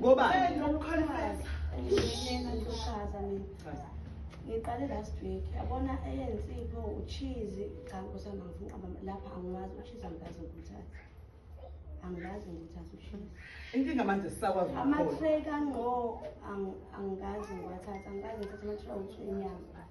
ngoba ngiqale last week yabona eyensibo uchizi cha nkosana ngifuna lapha angiwazi uchizi angikaze ngikuthathe angilazi ngithatha ushini inkinga manje sisakwazi amatrek angqo angikazi ngiwathatha angikazi ngithatha amatrek ukuthi inyanga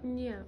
Yeah.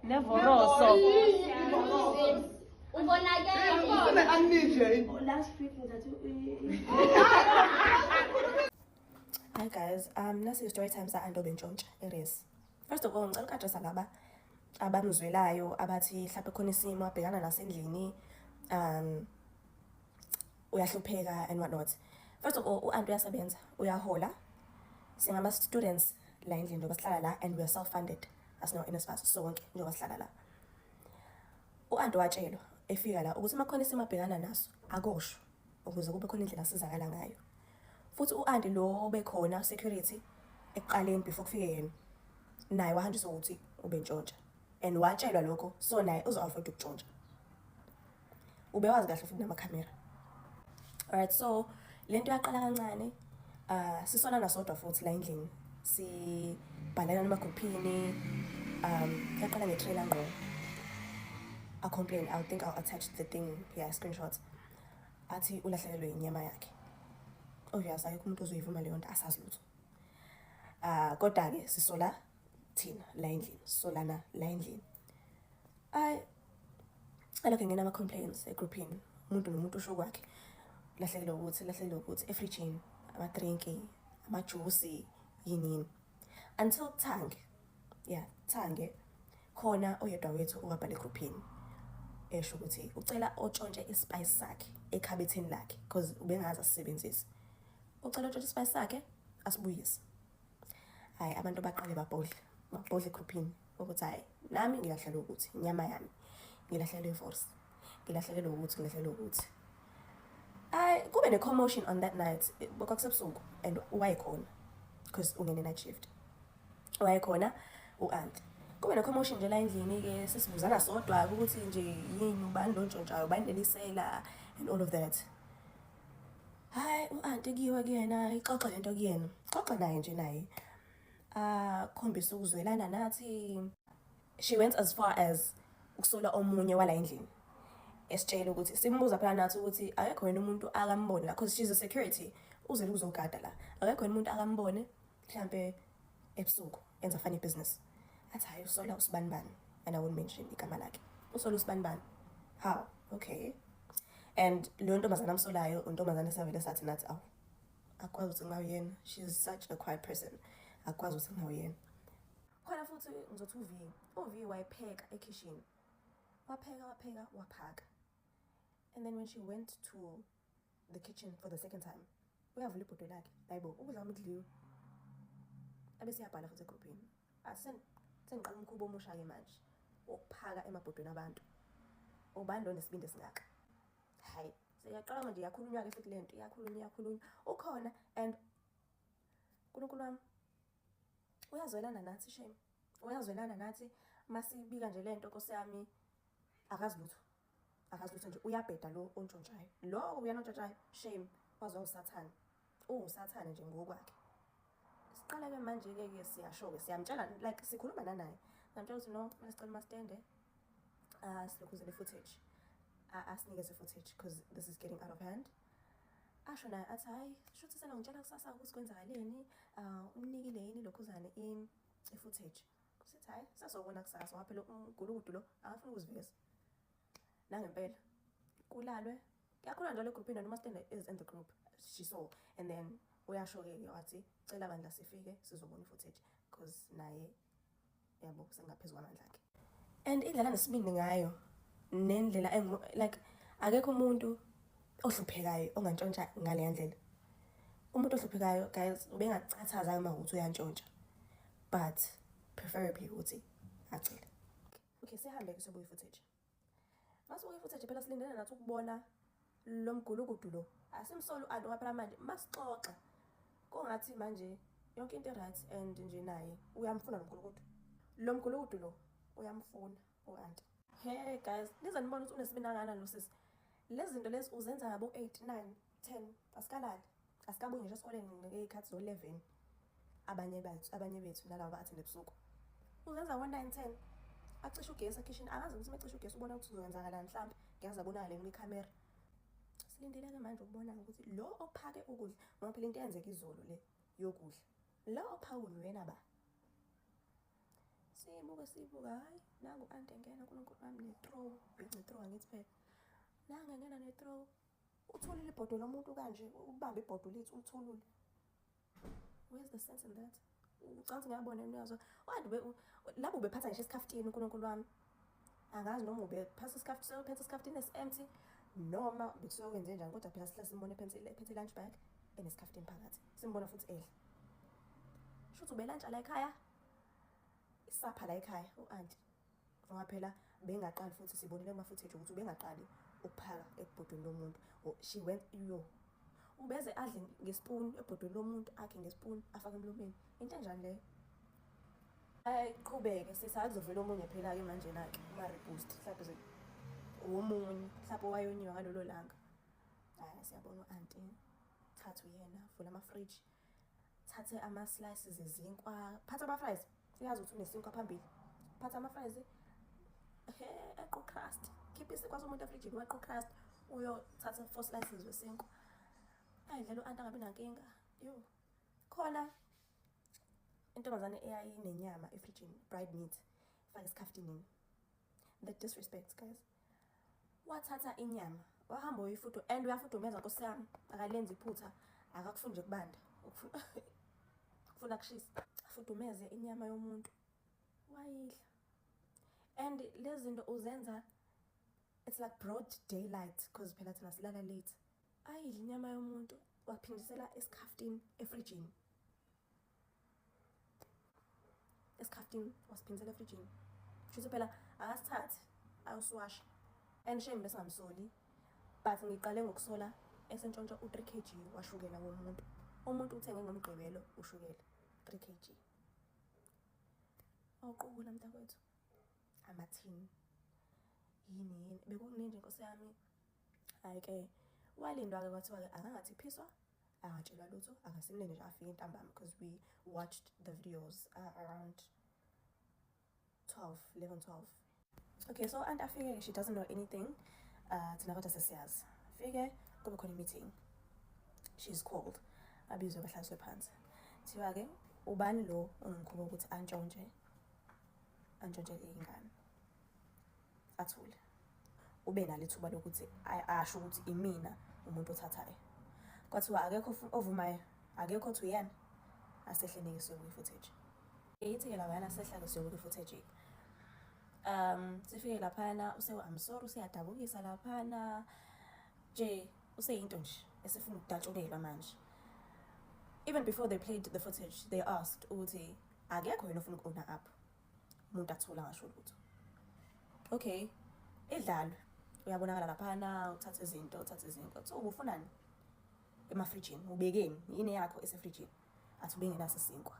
Nevoroso. Hi guys, um nasi story time sa Andobe Ntshontsha eRes. First of all ngicela ukadresa laba abamzwelayo abathi mhlawumbe khona isimo abhekana nasendlini um uyahlupheka and what not first of all u-anti uyasebenza uyahola singama-students la endlini njengoba sihlala la and we are self funded asino-nsfas sonke njengoba sihlala la u-anti watshelwa efika la ukuthi uma khona isimo abhekana naso akosho ukuze kube khona indlela asizakala ngayo futhi u-anti lo obekhona security ekuqaleni before kufike yena naye wahanjiswa ukuthi ubentshontsha and watshelwa lokho so naye uzo-afford ukutshontsha ubewazi kahle futhi namakhamera alright so le nto yaqala kancane um sisona nasodwa futhi la endlini sibhalelana emagruphini um yaqala nge-trailer ngqo a complain i think i'll attach the thing yeah screenshot athi ulahlekelwe inyama yakhe obvious oh, akekho umuntu ozoyivuma leyo nto asazi lutho um ah, kodwa-ke sisola thina la endlini solana la endlini ay alokho ngena ama complaints e groupini umuntu nomuntu usho kwakhe lahlekelo ukuthi lahlekelo ukuthi e fridgini ama drink ama juice yinini until thange yeah thange khona oyedwa wethu owabhala e groupini esho ukuthi ucela otshontshe i spice sakhe ekhabetheni lakhe because ubengazi asisebenzise ucela otshontshe i spice sakhe asibuyise hayi abantu baqale babhodle babhodle egruphini ukuthi hayi nami ngilahlelwe ukuthi inyama yami ngilahlelwe ivorsi ngilahlelwe ukuthi ngilahlelwe ukuthi hayi kube ne-commotion on that night kwakusebusuku and wayekhona because ungene night shift wayekhona u-anti kube ne-commotion nje la endlini-ke sesibuzana sodwa-ke ukuthi nje yini ubani lo ntshontshayo ubani lelisela and all of that hayi u-anti kuyiwe kuyena ixoxe le nto kuyena xoxe naye nje naye akhombise ukuzwelana nathi she went as far as ukusola omunye wala endlini esitshela ukuthi simbuza phela nathi ukuthi akekho yena umuntu akambone la because she's a security uzele ukuzogada la akekho yena umuntu akambone mhlampe ebusuku enza funny business athi hayi usola usibani bani and i won't mention igama lakhe usola usibani bani how okay and leyo ntombazana amsolayo untombazana esavele sathi nathi awu akwazi ukuthi ngawuyena she is such a quiet person akwazi ukuthi ngawuyena khona futhi ngizothi uv uv wayepheka ekhishini wapheka wapheka waphaka and then when she went to the kitchen for the second time uyavula ibhodwe lakhe hayi bo ukudla kwami kudliwe abe siyabhala futhi egruphini sengiqala umkhuba omusha-ke manje wokuphaka emabhodweni abantu ubani lo nesibindi esingaka hayi seyaqala manje iyakhulunywa-ke futhi le nto iyakhulunywa iyakhulunywa ukhona and unkulunkulu wami uyazwelana nathi shame uyazwelana nathi masibika nje le nto nkosi yami akazi lutho akazi ukuthi nje uyabheda lo ontshontshayo lo uyena ontshontshayo shame wazwa usathane uwusathane nje ngokwakhe siqaleke manje-ke ke siyasho-ke siyamtshela like sikhuluma nanaye samtshela ukuthi no kumele sicela umastende ah, silokhuzele footage ah, asinikeze footage because this is getting out of hand asho naye athi hhayi shuthi senongitshela kusasa ukuthi kwenzakaleni um ah, umnikile yini lokhuzane i-footage Kusithi hayi sasokona kusasa ngoba phela umgulukudu lo akafuni ukuziveza. Nangempela kulalwe kuyakhona njalo egroup noma stand is in the group she saw and then uyasho ke wathi cela bandla sifike sizobona footage because naye yabo sengaphezulu kwamandla akhe and indlela nesibindi ngayo nendlela like akekho umuntu ohluphekayo ongantshontsha ngale ndlela umuntu ohluphekayo guys ubengacathaza uma ukuthi uyantshontsha but preferably ukuthi acele okay sihambe-ke sobuye footage masibuye footage phela silindele nathi ukubona lo mgulukudu lo asimsoli u-anti ngoba phela manje masixoxa kungathi manje yonke into e-right and nje naye uyamfuna lo mgulukudu lo mgulukudu lo uyamfuna u-anti he guys nize nibona ukuthi unesibinakana lo sisi lezi zinto lezi uzenza ngabo-eight nine 10 asikalali asikabuye ngisho esikoleni ngekhathi zo 11 abanye bethu abanye bethu nalabo athinde ebusuku uzenza ngo 9 10 acisha ugesi ekhishini akazi ukuthi mecisha ugesi ubona ukuthi uzokwenzakala mhlawumbe ngiyazi abonakale kule camera silindele ke manje ukubona ukuthi lo ophake ukudla ngoba phela into eyenzeka izolo le yokudla la ophawula uyena ba simuke sibuka hayi nangu ante ngena unkulunkulu wami ne-throw bhici throw angithi phela nange ngena ne-throw Uthulile ibhodwe lomuntu kanje, ubambe ibhodwe lethu ulithulule. Where's the sense in that? Ucansi ngiyabona niyazwa. Wadi be labo bephatha ngisho isikhaftini uNkulunkulu wami. Angazi noma ube phasa isikhaftini, uphethe isikhaftini esiempty noma bekusuke kwenze njani kodwa phela sihlala simbona ephethe ephethe lunch bag enesikhaftini phakathi. Simbona futhi edla. Shuthi ubelantshela ekhaya. Isapha la ekhaya u-anti. ngoba phela bengaqali futhi sibonile uma futhi ukuthi ubengaqali ukuphaka ebhodweni lomuntu oh, she went yo ubeze adle ngespoon ebhodweni lomuntu akhe ngespoon afake emlomeni into enjani leyo ayiqhubeke sisakuzovela omunye phela-ke manje na-ke uma-reboost mhlawumbe womunye mhlawumbe owayonyiwa ngalolo langa hhayi siyabona u-anti thatha uyena vula amafriji thathe ama slices ezinkwa phatha ama fries uyazi ukuthi unesinkwa phambili phatha ama fries equ crust khipha isinkwa somuntu efrijini wequ crust uyothatha four slices wesinkwa ayidlela u-anta angabi nankinga yo khona intombazane eyayinenyama efrijini bride meat fake esikhaftini the disrespect guys wathatha inyama wahamba uyifudu and uyafudumeza nkosi yami akalenzi iphutha akakufuni nje kubanda ukufuna kushisa afudumeze inyama yomuntu wayidla and lezi zinto uzenza it's like broad daylight because phela thina silala late ayidla inyama yomuntu waphindisela esikhafutini efrijini esikhaftin wasiphindisela efrijini shuthi phela akasithathi ayosiwasha and shame besingamsoli but ngiqale ngokusola esentshontsha u-three k g washukela womuntu umuntu uthenge ngomgqibelo ushukela three k g awuqukula mntakwethu amathini yini yini bekukuninje nkosi yami hhayi-ke walindwa-ke kwathiwa-ke akangathi phiswa angatshelwa lutho angasimlinde nje afike ntambama because we watched the videos uh, around 12 11 12 okay so anti afike she doesn't know anything uh, thina kodwa sesiyazi fike kube khona i-meeting she's called abizwe bahlaliswe phansi kuthiwa-ke ubani lo ongimkhuba ukuthi antshontshe antshontshe iy'ngane athule ube nalo ithuba lokuthi asho ukuthi imina umuntu othathayo kwathiwa akekho ovumayo akekho othi uyena asehle nike siyobuka i-footage ithi-ke labayana sehlake siyobuka i-footage um sifike laphana use-i'm sorry useyadabukisa laphana nje useyinto nje esifuna ukudatshukelwa manje even before they played the footage they asked ukuthi akekho yena ofuna ukona up umuntu athula ngasho lutho okay edlalwe uyabonakala laphana uthathe izinto uthathe izinto so ubufunani emafrijini ubekeni yini yakho esefrijini athi ubengenaso isinkwa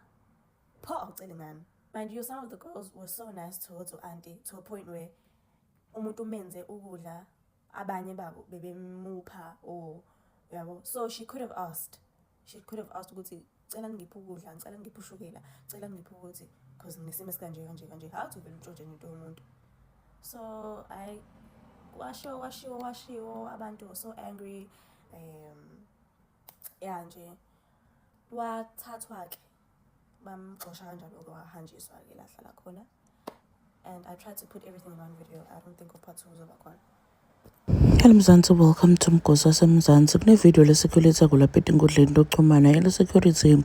pho awucele ngami mind you some of the girls were so nice towards u-anti to a point where umuntu umenze ukudla abanye babo bebemupha or yabo so she could have asked she could have asked ukuthi cela ngiphe ukudla ngicela ngiphe ushukela cela ngiphe ukuthi because nginesimo esikanje kanje kanje how to vele untshontshe into yomuntu so i washiwo washiwo washiwo abantu so angry um ya nje wathathwa-ke bamxosha kanjalo-ke wahanjiswa-ke la hlala khona and i tried to put everything in one video i don't think of part two uzoba khona Hello Mzansi, welcome to Mgosi waseMzansi. Kunevideo leSecurity kulapha etinkundleni lokuxhumana eleSecurity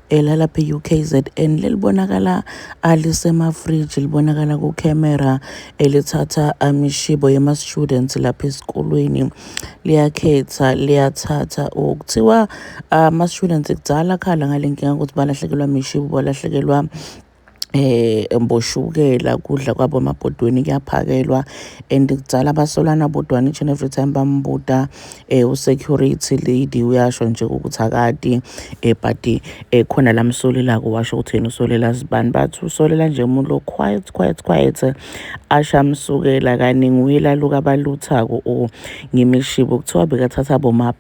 elalapha eh, e-UKZN lelibonakala alisemafriji ah, libonakala kucamera elithatha eh, amishibo ah, yema-students lapha esikolweni liyakhetha liyathatha okuthiwa oh, Ah, Masishulence kudala khala ngale nkinga ukuthi balahlekelwa mishibu balahlekelwa eh mboshukela kudla kwabo amabhodweni kuyaphakelwa and kudala basolana bodwana each and every time bambuta eh usecurity lady uyasho nje ukuthi akati eh but eh khona lamsolela ko washo ukuthi yena usolela zibani bathi usolela nje umuntu lo quiet quiet quiet asha msukela kaningi uyela luka baluthako o ngimishibo kuthiwa bekathatha boma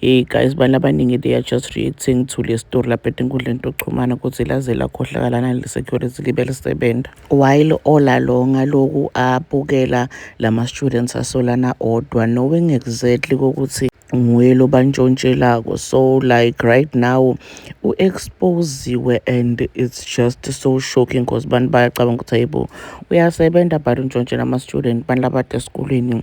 Hey guys abantu abaningi they are just reacting to le story lapha etinkundleni tokuxhumana ukuthi laze lakhohlakalana le-security libe lisebenza while all along aloku abukela lama-students asolana odwa knowing exactly kokuthi nguye lobantshontshelako so like right now u-exposiwe and it's just so shocking because abantu bayacabanga ukuthi hayibo uyasebenza but untshontshe nama-student abantu labade esikolweni